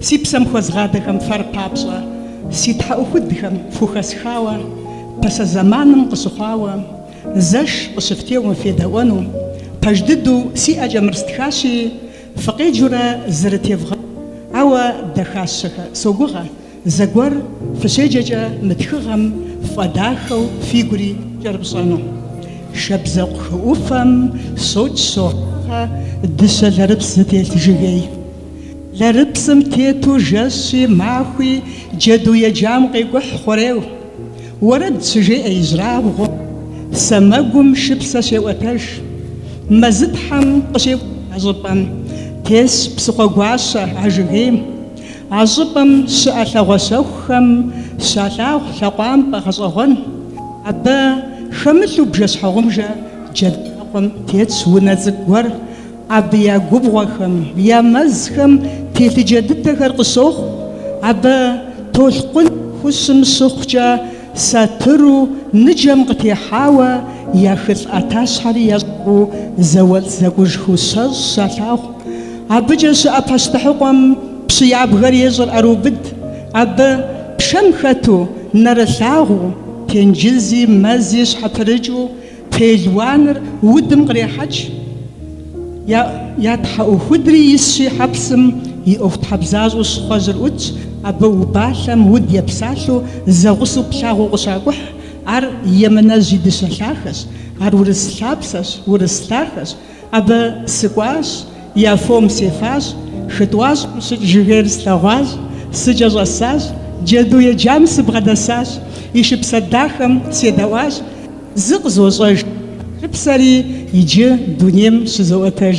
Си псэм хуэзгъадэхэм фэр папщӏэ, Си тхьэӏухудхэм фхухэсхауэ, Пасэ зэманым къыщыхъуауэ, Зэш къыщыфтеуэм федэӏуэну. Пэж дыдэу си ӏэкӏэ мыр стхащи, Фыкъеджэурэ зырытевгъэуну. Ауэ дахащэхэ согугъэ. Зэгуэр фыщеджэкӏэ мы тхыгъэм ффӏэдахэу фигури кӏэрыпщӏэну. Шабзэкъу хы ӏуфэм щокӏ щогъагъэ дыщэ лэрыпс зытелъ жыгей. Лэрыпсым тету жэщи, махуи джэду еджам къекӏухь хъуреу. Уэрэд щыжеӏэ ижьырабгъуу, сэмэгум шыпсэ щеӏуэтэж. Мэзытхьэм къыщекӏухь а щӏыпӏэм тесщ псыхъуэгуащэ а жыгейм. А щӏыпӏэм щыӏэ лъагъуэ щэхухэм щалъагъу лъакъуампӏэ гъэщӏэгъуэн. Абы хэмылъу бжэ-щхьэгъубжэ джэд лъакъуэм тетщ унэ цӏыкӏу гуэр. Абы я губгъуэхэм, я мэзхэм телъыджэ дыдэхэр къыщохъу. Абы толъкъун нэхущым щыхъукӏэ, Сатыру ныджэм къытехьауэ я хылӏ ӏэтащхьэри ящӏыгъуу зауэлӏ зэкӏужхэу щэщӏ щалъагъу. Абыкӏэ щыӏэ пащтыхьыкъуэм пщы ябгэр ещӏыр ӏэрыубыд. Абы, пшэм хэту, нэрылъагъуу, тенджызи, мэзи щхьэпрыкӏыу, Пелуаныр удым кърехьэкӏ, я тхьэӏухудри исщи, хьэпсым и ӏуэхутхьэбзащӏэу щхъуэжьыр ӏутщ, абы убалъэм уд епсалъэу зэгъусэу плъагъуу къыщакӏухь, ар емынэжь и дыщэ лъахэщ, ар урыс лъапсэщ, урыс лъахэщ. Абы сыкӏуащ, я фом сефащ, хы тӏуащӏэм щыкӏ жыгейр слъэгъуащ, сыкӏэщӏэсащ, джэду еджам сыбгъэдэсащ, и шыпсэ дахэм седэӏуащ, зы къызощӏэж, шыпсэри иджы дунейм щызоӏуэтэж.